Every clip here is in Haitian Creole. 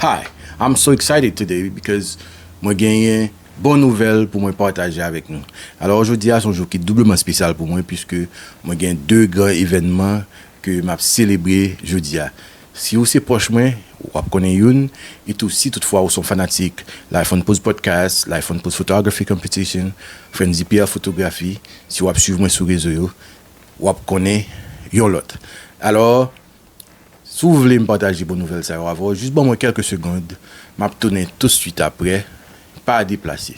Hi, I'm so excited today because mwen genyen bon nouvèl pou mwen pataje avèk nou. Alò jodi a se yon jou ki doubleman spesyal pou mwen puiske mwen gen 2 gran evènman ke map selebre jodi a. Si ou se pwòch mwen, wap konnen youn, etou si tout fwa ou se yon fanatik Life on Pose Podcast, Life on Pose Photography Competition, Frantzy Pierre Photographie, si wap swiv mwen sou rezo yo, wap konnen yon lòt. Alò, Si w vle m pataje bon nouvèl sa yo avè w, jis ban mwen kèlke segond, m ap tounen tousuit aprè. Pa deplase.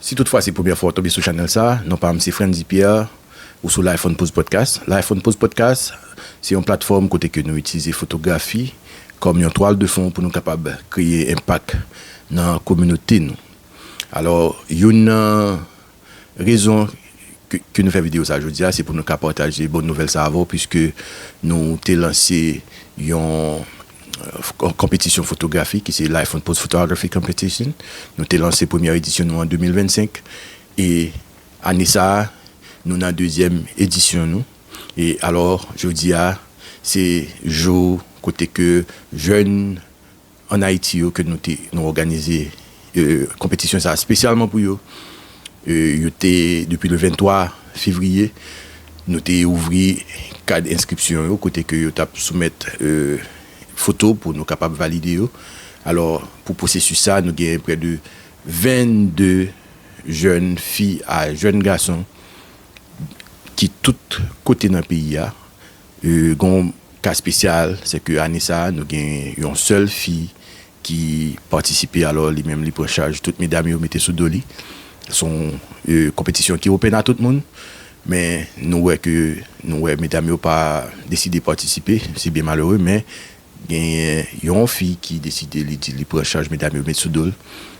Si tout fwa se premyè fwa ou tonbe sou chanèl sa, non pa m se Frantzy Pierre, ou sou Lifeonpause Podcast. Lifeonpause Podcast se yon platfòm kote ke nou itilize fotografi kòm yon twal de fon pou nou kapab kreye enpak nan kominote nou. Alò, youn nan rezon ke nou fè videyo sa jodi a, se pou nou ka pataje bon nouvèl sa avè w, puiske nou te lanse yon. Konpetisyon fotografi ki se l'iPhone Post Photography Competition. Nou te lanse premyè edisyon nou an 2025 e ane sa a nou nan dezyèm edisyon nou. E alò jodi a se jou kote ke jèn an Ayiti yo ke nou te nou òganize konpetisyon sa spesyalman pou yo, yo te depi le 23 fevriye nou te ouvri kad enskripsyon yo kote ke yo tap soumèt foto pou nou kapab valide yo alò pou pwosesis sa nou gen prè de 22 jèn fi a jèn gason ki tout kote nan peyi a. Gen yon ka spesyal, se ke ane sa a nou gen yon sèl fi ki patisipe, alò li menm li pran chaj tout medam yo mete sou do li. Se yon konpetisyon ki open a tout moun, men nou wè ke nou wè medam yo pa deside patisipe, se byen malere, men gen yon fi ki deside li di li pran chaj medam yo met sou do l,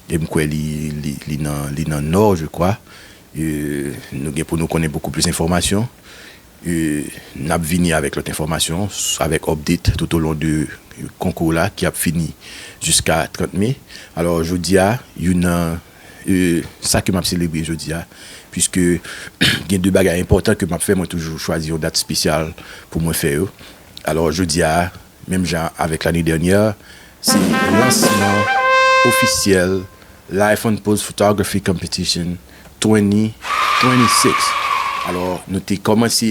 e m kwè li nan li nan Nò je kwa, nou gen pou nou konnen bokou plis enfòmasyon. N ap vini avèk lòt enfòmasyon avèk update toutolon de konkou la ki ap fini jiska 30 me. Alò jodi a youn nan sa ke m ap selebre jodi a puiske gen de bagay enpòtan ke m ap fè mwen toujou chwazi yon dat spesyal pou mwen fè yo. Alò jodi a Menm jan avèk lane dènyè, se lansman ofisyèl Life on Pose Photography Competition 2026. Alò, nou te kòmanse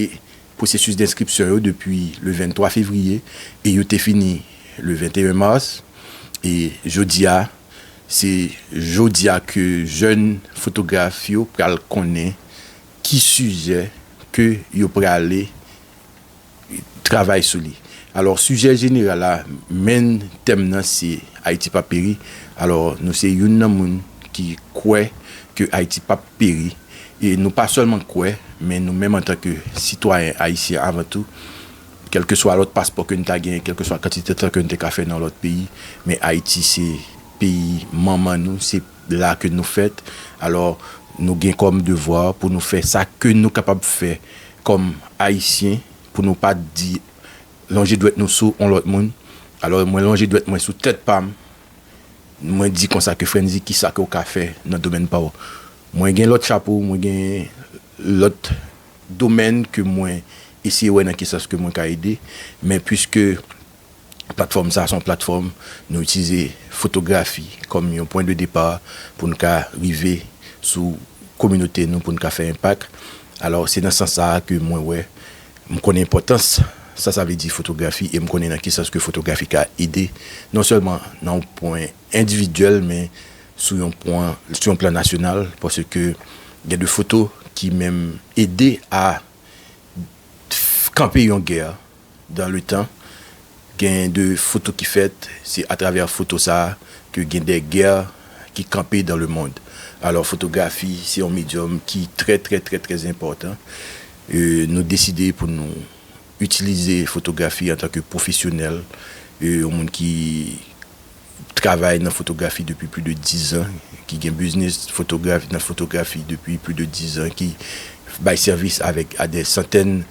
pwosesis denskripsyon yo depi le 23 fevriye e yo te fini le 21 mas. E jodi a, se jodi a ke jèn fotograf yo pral konnen ki sijè ke yo prale travay sou li. Alò sijè jeneral la, menn tèm nan se Ayiti pap peri. Alò nou se youn nan moun ki kwè ke Ayiti pap peri. E nou pa sèlman kwè, men nou menm antan ke sitwayen ayisyen avan tou, kèlkeswa lòt paspò ke nou ta genyen, kèlkeswa kantite tan ke nou te ka fè nan lòt peyi, men Ayiti se peyi manman nou, se. la ke nou fèt, alò nou gen kòm devwa pou nou fè sa ke nou kapab fè kòm Ayisyen pou nou pa di lonje dwèt nou sou on lòt moun. Alò mwen lonje dwèt mwen sou tèt pa m, mwen di konsa ke Frantz di ki sa ke ou ka fè nan domèn pa w. Mwen gen lòt chapo, mwen gen lòt domèn ke mwen eseye wè nan ki sans ke mwen ka ede, men pwiske. Platfòm sa a se yon platfòm nou itilize fotografi kòm yon pwen de depa pou nou ka rive sou kominote nou pou nou ka fè enpak. Alò, se nan sans sa a ke mwen wè, m konnen enpòtans sa sa vle di fotografi e m konnen nan ki sans ke fotografi ka ede non sèlman nan yon pwen endividyèl men sou yon pwen, sou yon plan nasyonal paske gen de foto ki menm ede a kanpe yon gè. Dan le tan, gen de foto ki fèt, se atravè foto sa a ke gen de gè ki kanpe dan le mond. Alò fotografi se yon medyòm ki trè trè trè trè enpòtan. Nou deside pou nou itilize fotografi antanke pwofesyonèl, yon moun ki travay nan fotografi depi pli de dizan, ki gen biznis fotograf nan fotografi depi pli de dizan, ki bay sèvis avèk a dè santèn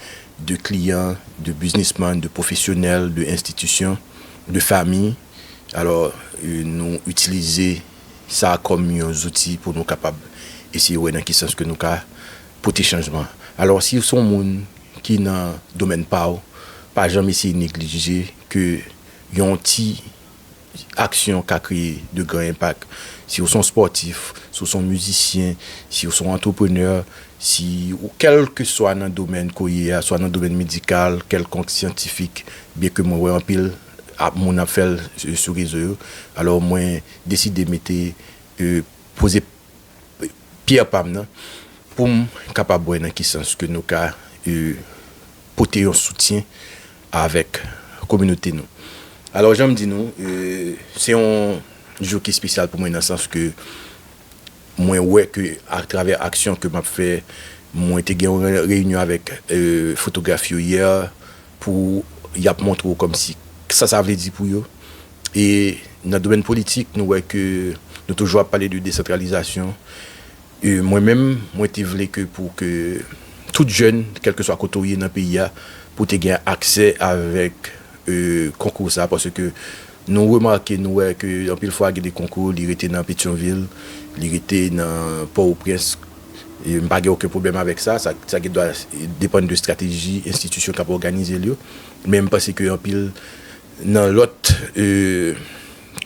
de kliyan, de biznisman, de pwofesyonèl, de enstitisyon, de fami. Alò, nou itilize sa kòm yon zouti pou nou kapab eseye wè nan ki sans ke nou ka pote chanjman. Alò, si w se yon moun ki nan domèn pa w, pa janm eseye neglije ke Yon ti aksyon ka kreye de gran enpak. Si ou son spòtif, si ou son mizisyen, si ou son antreprenè, si ou kèlke swa nan domèn ke w ye a, swa nan domèn medikal, kèlkonk syantifik, byen ke mwen wè anpil moun ap fè l sou rezo yo, alò mwen deside mete, poze pyè pa m nan pou m kapab wè nan ki sans ke nou ka pote yon soutyen avèk kominote nou. Alò jan m di nou, se yon jou ki spesyal pou mwen nan sans ke mwen wè ke atravè aksyon ke m ap fè, mwen te gen yon reyinyon avèk fotograf yo yè pou y ap montre w kòmsi sa sa vle di pou yo. E nan domèn politik nou wè ke nou toujou ap pale de desantralizasyon. Mwen menm, mwen te vle ke pou ke tout jèn, kèlkeswa kote ou ye nan peyi a, pou te gen aksè avèk konkou sa, paske nou remake, nou wè ke anpil fwa gen de konkou, li rete nan Petyonvil, li rete nan Pòwoprens, m pa gen oken pwoblèm avèk sa, sa gen dwa depann de estrateji enstitisyon k ap òganize l yo, men m panse ke anpil nan lòt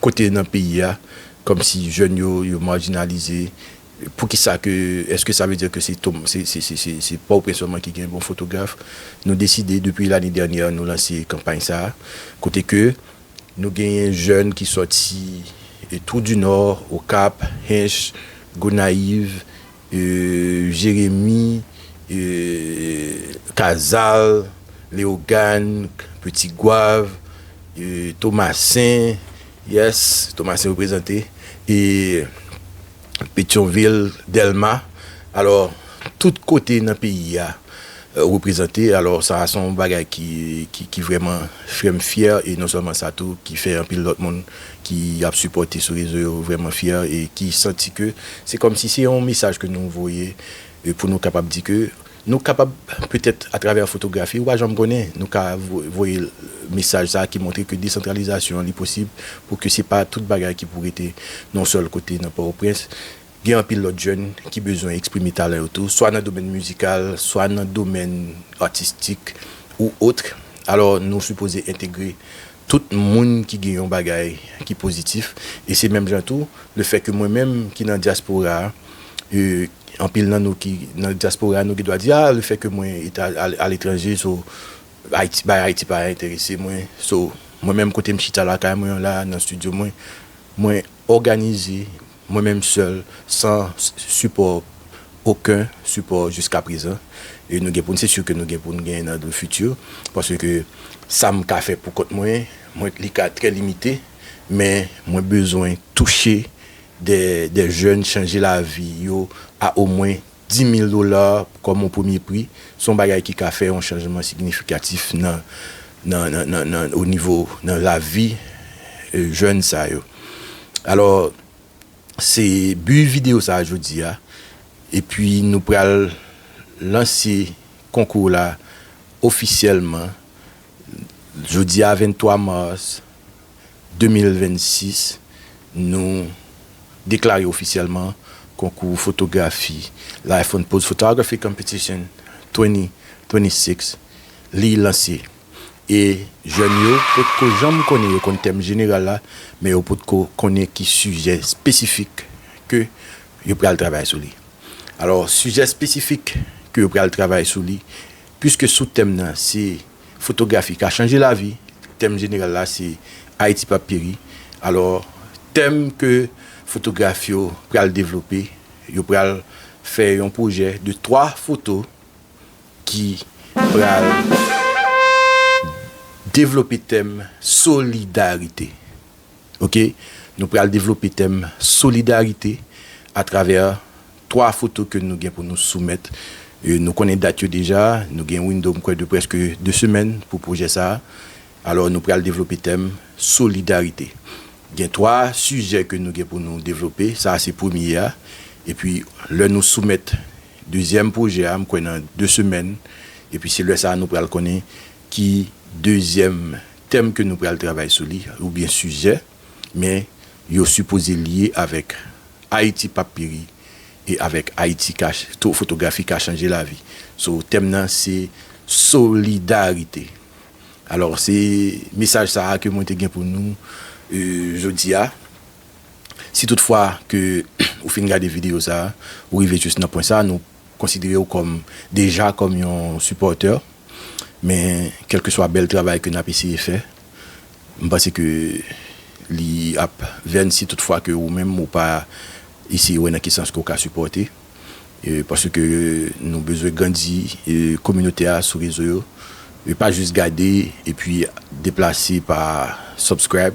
Kote nan peyi a kòmsi jèn yo yo marginalize poukisa ke eske sa vle di ke se tom se se se se pòtoprens sèlman ki gen bon fotograf nou deside depi lane dènyè nou lanse kanpay sa kote ke nou genyen jèn ki sòti twou di nò okap hinche gonayiv Jeremi, Kazal, Leogàn, Peti Gwav, Tomasen, yes, Tomasen reprezante, e Petyonvil, Dèlma, alò tout kote nan peyi a. reprezante alò sa a son bagay ki ki vrèman fèm fyè e non sèlman sa tou ki fè anpil lòt moun ki ap sipòte sou rezo yo vrèman fyè e ki santi ke se kòm si se yon mesaj ke nou voye pou nou kapab di ke nou kapab petèt atravè fotografi ou pa janm konnen nou ka voye mesaj sa a ki montre ke desantralizasyon an li posib pou ke se pa tout bagay ki pou rete nan yon sèl kote nan pòtoprens Gen anpil lòt jèn ki bezwen eksprime talan yo tou, swa nan domèn mizikal, swa nan domèn atistik ou otre. Alò nou sipoze entegre tout moun ki gen yon bagay ki pozitif. E se menm jan tou, le fè ke mwen menm ki nan dyaspora a, anpil nan nou ki nan dyaspora a nou gen dwa di, a le fè ke mwen aletranje so Ayiti, bagay Ayiti pa enterese mwen. So mwen menm kote m chita lakay mwen an la, nan studio mwen, mwen. òganize mwen menm sèl san sipò oken sipò jiska prezan e nou gen pou n se si ke nou gen pou n genyen nan le fiti paske sa m ka fè pou kont mwen mwen li ka trè limite men mwen bezwen touche dè jèn chanje lavi yo a omwen Di mil dola kòm yon premye pri se yon bagay ki ka fè yon chanjman signifikatif nan nan o nivo nan lavi jèn sa yo. Alò se bi videyo sa jodi a epi nou pral lanse konkou la ofisyèlman Jodi a 23 mars 2026 nou deklare ofisyèlman konkou fotografi Life on Pose Photography Competition 2026 li lanse e jèn yo potko janm konnen yo konn tèm jeneral la men yo potko konnen ki sijè espesifik ke yo pral travay sou li alò sijè espesifik ke yo pral travay sou li Piske sou tèm nan se Fotografi ka chanje lavi, tèm jeneral la se Ayiti p ap peri, alò tèm ke fotograf yo pral devlope, yo pral fè yon pwojè de 3 foto ki pral devlope tèm solidarite. ok nou pral devlope tèm solidarite a travè 3 foto ke nou gen pou nou soumèt nou konnen dat yo deja nou gen window mkwè de prèske 2 semèn pou pwojè sa alò nou pral devlope tèm solidarite gen 3 sijè ke nou gen pou nou devlope sa se premye a epi lè nou soumèt dezyèm pwojè a mkwè nan 2 semèn epi se lè sa nou pral konnen ki dezyèm tèm ke nou pral travay sou li oubyen sijè, men yo sipoze lye avèk Ayiti pap peri e avèk Ayiti ka to fotografi ka chanje lavi. So tèm nan se solidarite. Alò se mesaj sa a ke mwen te gen pou nou jodi a. Si tout fwa ke ou fin gade videyo sa a, ou rive jis nan pwen sa a, nou. konsidere w kòm deja kòm yon sipòtè men kèlkeswa bèl travay ke nap eseye fè m panse ke li ap vèn si tout fwa ke ou menm ou pa eseye wè nan ki sans ke w ka sipòte paske nou bezwen grandi kominote a sou rezo yo e pa jis gade epi deplase pa subscribe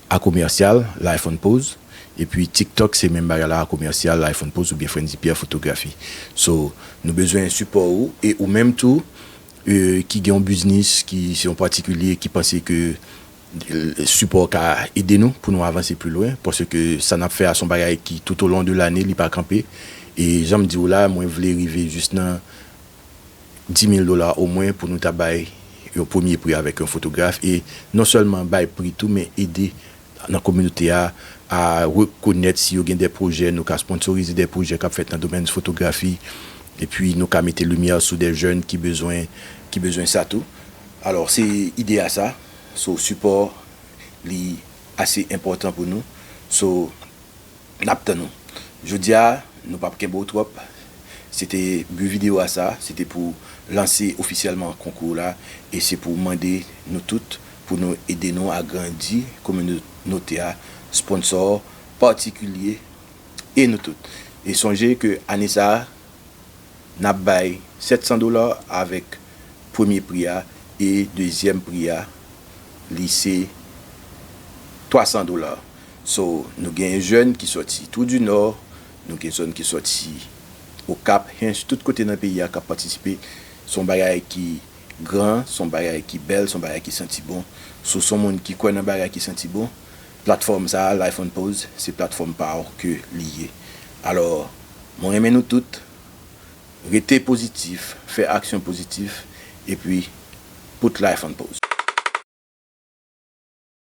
A commercial, life on pose, epi tiktok se menm bagay la a commercial, life on pose oubyen Frantzy Pierre Photographie. So, nou bezwen sipò ou e ou menm tou ki gen yon biznis, ki se yon patikilye ki panse ke sipò w ka ede nou pou nou avanse pli lwen paske sa n ap fè a se yon bagay ki toutolon de lane li pa kanpe e jan m di w la mwen vle rive jis nan dimil dola omwen pou nou ta bay yon premye pri avèk yon fotograf e non sèlman bay pri tou men ede nan kominote a a rekonèt si yo gen de pwojè nou ka sponnsorize de pwojè k ap fèt nan domèn fotografi epi nou ka mete limyè sou de jèn ki bezwen ki bezwen sa tou alò se ide a sa so sipò li ase enpòtan pou nou so. Nap tann ou. Jodia nou pap kenbe w twòp, se te but video a sa, se te pou lanse ofisyèlman konkou la e se pou mande nou tout pou nou ede nou agrandi kominote a, sponsor, patikilye e nou tout. E sonje ke ane sa nap bay 700 dola avèk premye pri a e dezyèm pri a li se 300 dola. So, nou gen jèn ki sòti Trou du Nord, nou gen zòn ki sòti Okap, Hinche, tout kote nan peyi a k ap patisipe. Se yon bagay ki gran, se yon bagay ki bèl, se yon bagay ki santi bon. So, se yon moun ki kwè nan bagay ki santi bon, platfòm sa a, Life on Pose, se platfòm pa w ke li ye. Alò, mwen renmen nou tout. Rete pozitif, fè aksyon pozitif, epi put life on pause.